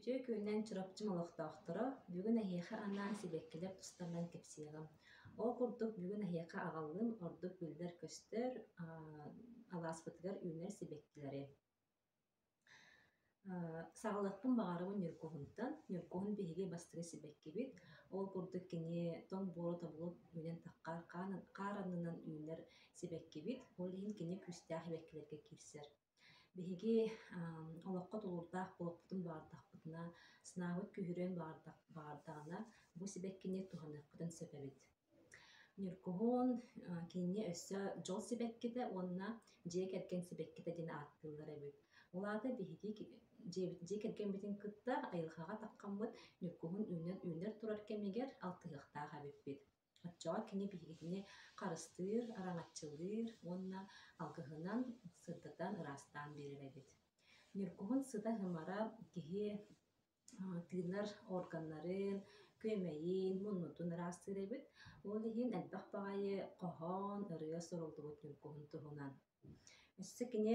Үтүө күнүнэн Чурапчы олохтоохторо, бүгүн эһиэхэ анаан сибэккилэр тустарынан кэпсиэҕим. Ол курдук, бүгүн эһиэхэ аҕаллым ордук биллэр көстөр, алааспытыгар үүнэр сибэккилэри. Саҕалыахпын баҕарабын Ньургуһунтан. Ньургуһун биһиги бастакы сибэккибит. Ол курдук кини тоҥ буору тобулу үүнэн таххар хаар аннынан үүнэр сибэккибит. Ол иһин кини күүстээх сибэккилэргэ киирсэр. Биһиги олоххо тулуурдаах буолуохпутун баҕардахпытына, сынаабыт күүһүрүөн баҕардаҕына, бу сибэккини туһаныахпытын сөп эбит. Ньургуһун кинини өссө дьол сибэккитэ уонна дьиэ кэргэн сибэккитэ диэн ааттыыллар эбит. Ол аата биһиги дьиэ кэргэммитин кытта айылҕаҕа таххаммыт Ньургуһун үүнэн үүнэр турар кэмигэр алтыһыахтаах эбиппит. Оччоҕо кини биһигини харыстыыр, араҥаччылыыр уонна алгыһынан сырдатан ыраастаан биэрэр эбит. Ньургуһун сыта-һымара киһи тыынар органнарын күөмэйин муннутун ыраастыыр эбит ол иһин элбэх баҕайы хоһоон ырыа суруллубут ньуҥкуһун туһунан өссө кини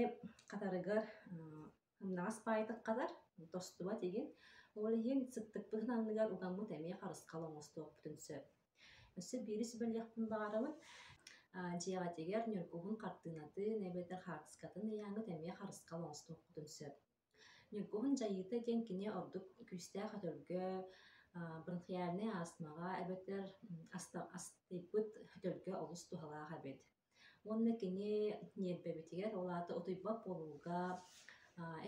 хатарыгар ымнаҕас баайытык хатар тостубат игин ол иһин сыттыкпытын анныгар угаммыт эмиэ харысхал оҥостуохпутун сөп өссө биири сүбэлиэхпин баҕарабын дьиэҕитигэр ньуҥкуһун хартыынатын эбэтэр хаартыскатын ыйааҥҥыт эмиэ харысхал оҥостуоххутун сөп Ньургуһун дьайыыта диэн кини ордук күүстээх өтөргө, бронхиальнай астмаҕа эбэтэр астыйбыт өтөргө олус туһалаах эбит. Уонна кини ньиэрбэбитигэр, ол аата утуйбат буолууга,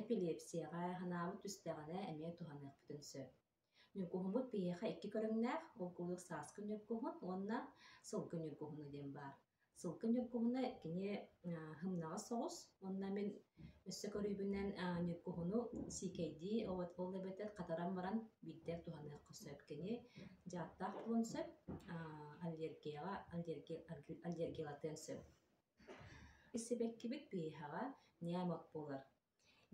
эпилепсияҕа ханаабыт түстэҕинэ эмиэ туһаныахпытын сөп. Ньукуһумут биһиэхэ икки көрүҥнээх, булкулук сааскы ньургуһун уонна сылгы ньургуһуна диэн баар. Сылгы ньургуһуна кини һымнаҕас соҕус уонна мин өссө көрүүбүнэн ньургуһуну сиикэйдии ол эбэтэр хатаран баран биирдэ туһаныахха сөп. Кини дьааттаах буолуон сөп, аллергияҕа аллергиялатыан сөп. Сибэккибит биһиэхэ ньээмэк буолар.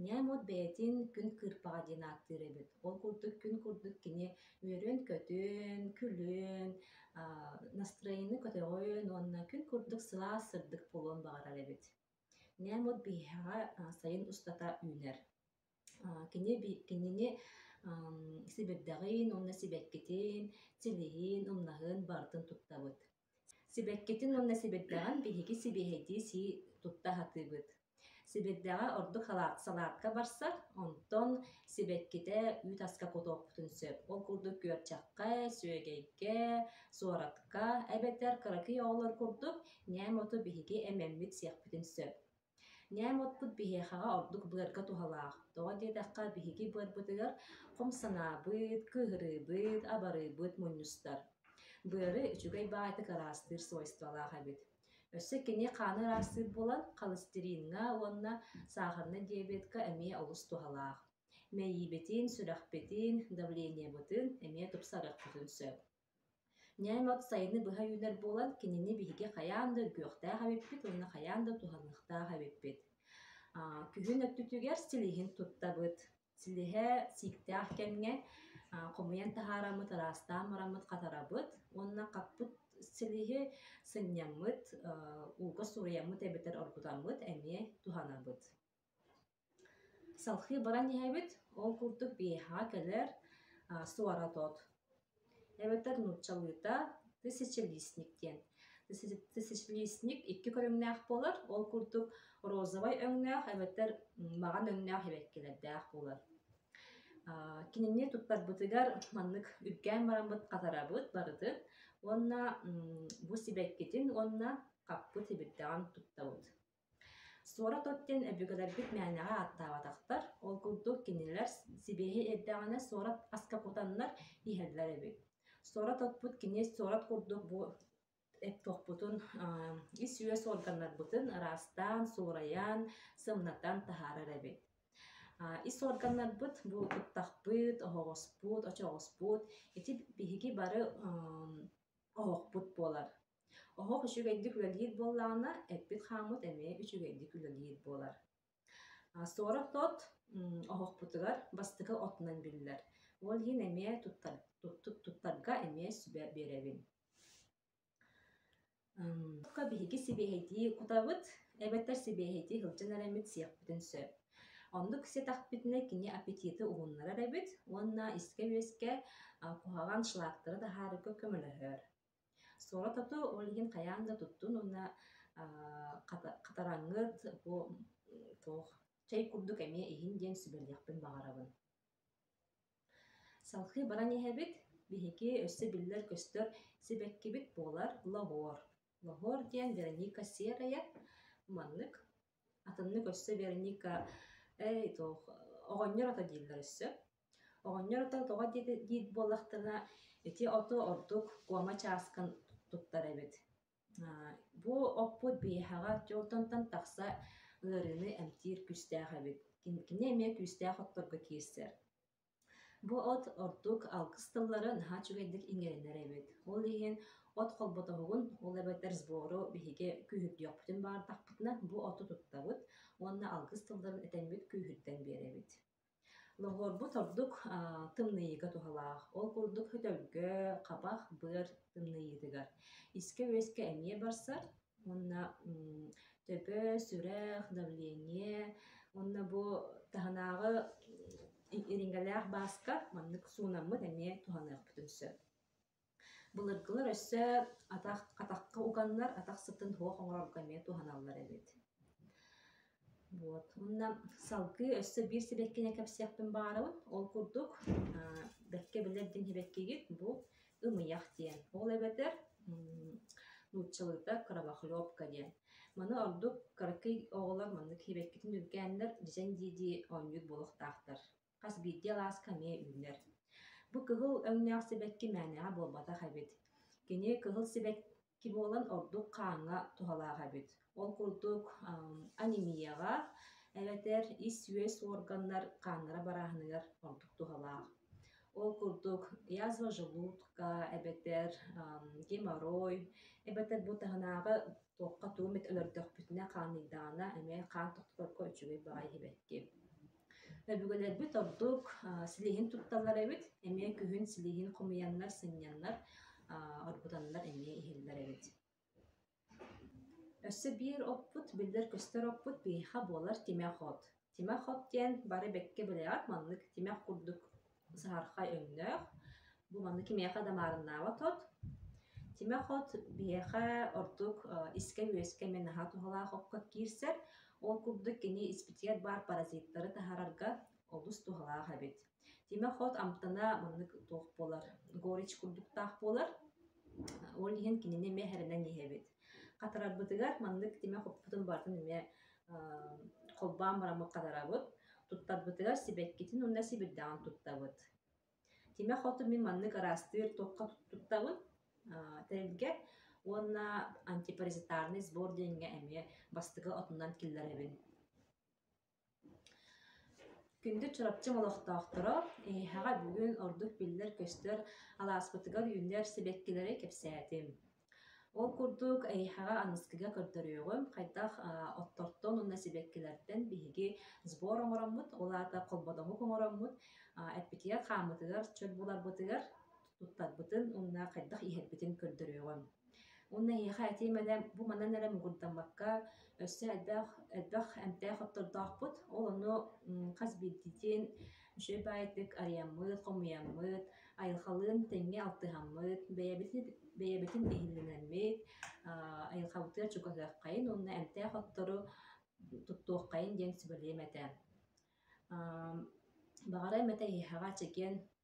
ньээм от бэйэтин күн кыырпаҕа диэн ааттыыр эбит ол курдук күн курдук кини үөрүөн-көтүөн күлүөн настроение көтөҕүөн уонна күн курдук сылаас сырдык буолуон баҕарар эбит ньээм от биһиэхэ сайын устата үүнэр кини кинини сибирдэҕин уонна сибэккитин силиһин умнаһын барытын туттабыт Сибэккитин уонна сибирдэҕин биһиги сибиэһэйдии сии тутта сатыыбыт. Сибирдэҕэ ордук салаат салаатка барсар, онтон сибэккитэ үүт аска кутуохпутун сөп. Ол курдук күөрчэххэ, сүөгэйгэ, суоратка эбэтэр кыракый оҕолор курдук ньээм оту биһиги эмэммит сиэхпитин сөп. Ньээм уотпут биһиэхэҕэ ордук быарга туһалаах. Тоҕо диэтэххэ, биһиги быарбытыгар хом санаабыт, кыыһырыыбыт, абарыыбыт мунньустар. Быары үчүгэй баҕайытык араастыыр свойстволаах эбит. Өссө кини хааны ыраастыыр буолан, холестериҥҥа уонна саахарна диабетка эмиэ олус туһалаах. Мэйиибитин, сүрэхпитин, давлениебытын эмиэ тупсарыахпытын сөп. Ньээм от сайыны быһа үүнэр буолан, кинини биһиги хайаан да үргүөхтээх эбиппит уонна хайаан да туһаныахтаах эбиппит. Күһүн өттүтүгэр силиһин туттабыт. Силиһэ сииктээх кэмҥэ хомуйан таһаараммыт, ыраастаан бараммыт хатарабыт уонна хаппыт силиһи сынньаммыт, ууга суруйаммыт эбэтэр оргутаммыт эмиэ туһанабыт. Салхыы баран иһэбит, ол курдук биһиэхэҕэ кэлэр, суворотоот. Эбэтэр нууччалыыта тысячелистник диэн. Тысячелистник икки көрүҥнээх буолар, ол курдук розовай өҥнөөх эбэтэр маҕан өҥнөөх эбэккилэрдээх буолар. Кинини туттарбытыгар маннык үргээн бараммыт хатарабыт барытын уонна бу сибэккитин уонна хаппыт ибирдэҕин туттабыт. Суорат от диэн өбүгэлэрбит мээнэҕэ ааттаабатахтар, ол курдук кинилэр сибиэһэй эрдэҕинэ суорат аска кутаннар иһэллэр эбит. Суорат отпут кини суорат курдук бу туохпутун ис-үөс органнарбытын ыраастаан, суурайан, сымнатан таһаарар эбит. Ис органнарбыт бу ыттахпыт, оһоҕоспут, очоҕоспут ити биһиги бары оһохпут буолар. оһох үчүгэйдик үлэлиир буоллаҕына эппит хааммыт эмиэ үчүгэйдик үлэлиир буолар сорох-тот оһохпутугар бастакы отунан биллэр ол иһин эмиэ туттарга эмиэ сүбэ биэрэбин биһиги сибиэһэйдии кутабыт эбэтэр сибиэһэйдии сылдьан эрэбит сиэхпитин сөп оннук сиэтэхпитинэ кини аппетиты уһуннарар эбит уонна искэ-үөскэ куһаҕан шлактары таһаарарга көмөлөһөр Суоратату ол иһин хайаан да туттун уонна хатараҥҥыт бу туох чэй курдук эмиэ иһин диэн сүбэлиэхпин баҕарабын. Салхыы баран иһэбит. Биһиги өссө биллэр-көстөр сибэккибит буолар лоһуор. Лоһуор диэн Вероника Серая маннык. атыннык өссө Вероника «Эй, туох оҕонньор ото» дииллэр өссө. Оҕонньор ото тоҕо диэт диит буоллахтына, ити оту ордук куома чааскын туттар эбит. Бу оппут биһиэхэҕэ дьолтонтон тахса ыарыыны эмтиир күүстээх эбит. Кини эмиэ күүстээх отторго киирсэр. Бу от ордук алгыс тыллары наһаа үчүгэйдик иҥэринэр эбит. Ол иһин от холботоһугун, ол эбэтэр сбору биһиги күүһүрдүөхпүтүн баҕардахпытына, бу оту туттабыт уонна алгыс тылларын этэҥҥит күүһүрдэн биэрэбит. Лоһуорбут ордук аа, тымныйыыга туһалаах. Ол курдук өтөлгө, хабах, быар тымныйыытыгар. Искэ-үөскэ эмиэ барсар, Уонна төпөөс, үрэх, давление уонна бу таһынааҕы ириҥэлээх бааска маннык суунаммыт эмиэ туһаныахпытын сөп. Былыргылар өссө атах, атахха уганнар атах сытын суох оҥорорго эмиэ туһаналлар эбит. Вот. Мына салгыы өссө биир сибэккини кэпсиэхпин баҕарабын. Ол курдук, аа, бэркэ билэр диэн сибэккигит бу ымыйах диэн. Ол эбэтэр м, нууччалыыта кровохлебка диэн. Маны ордук кыракый оҕолор маннык сибэккитин үргээннэр дьэҥ дии-дии оонньуур буолуохтаахтар. Хас биирдии алааска эмиэ үүнэр. Бу кыһыл өҥнөөх сибэкки мээнэҕэ буолбатах эбит. Кини кыһыл сибэкки буолан ордук хааҥҥа туһалаах эбит. Ол курдук анемияҕа эбэтэр ис-үөс уорганнар хааннара барааһыныгар ордук туһалаах. Ол курдук язва желудка эбэтэр геморрой эбэтэр бу таһынааҕы Туохха тугу эмит өлөрдөхпүтүнэ хааныйдаҕына эмиэ хаан тохтоторго үчүгэй баҕайы иһибэттиэ. Өбүгэлэрбит ордук силиһин тутталлар эбит, эмиэ күһүн силиһин хомуйаннар, сынньаннар, оргутаннар эмиэ иһэллэр эбит. Өссө биир оппут, биллэр-көстөр оппут биһиэхэ буолар тимэх от. Тимэх хоп диэн бары бэккэ бэлэҕик маннык тимэх курдук саһархай өҥнөөх. Бу маннык кимиэхэ да маарыннаабат от. Тимэх от биһиэхэ ордук искэ-үөскэ эмиэ наһаа туһалаах окко киирсэр. Ол курдук кини испитигэр баар паразиттары таһаарарга олус туһалаах эбит. Тимэ Хот амтана маннык туох буолар горич курдуктаах буолар. Ол иһин кинини эмиэ эрэнэн иһэбит. Хатарарбытыгар маннык тимэ хоппутун барытын эмиэ холбоон бараммыт хатарабыт. Туттарбытыгар сибэккитин уонна сибирдэҕин туттабыт. Тимэ хоту мин маннык араастыыр туохха туттабын тэрилгэ уонна антипаразитарный сбор диэҥҥэ эмиэ бастакы отунан киллэрэбин Күндү Чурапчы олохтоохторо, эһиэхэ бүгүн ордук биллэр-көстөр алааспытыгар үүнэр сибэккилэри кэпсээтим. Ол курдук, эһиэхэ аныскыга көрдөрүөҕүм, хайдах оттортон уонна сибэккилэртэн биһиги сбор оҥороммут, ол аата холбодоһук оҥороммут, эппитигэр хааммытыгар, чөл буларбытыгар туттарбытын уонна хайдах иһэрбитин көрдөрүөҕүм. Уонна эһиэхэ ити мээнэ бу манан эрэ муҥурдаммакка өссө элбэх элбэх эмтээх оттордоохпут. Ол ону хас биирдиитин үчүгэйбаайтык арыйаммыт, хомуйаммыт, айылхалыын тэҥҥэ алтыһаммыт, бэйэбитин бэйэбитин иһиллэнэммит, айылхабытыгар чугаһыаххайын уонна эмтээх оттору туттуоххайын диэн сүбэлиэм этэ. Баҕарыам этэ эһиэхэ чэгиэн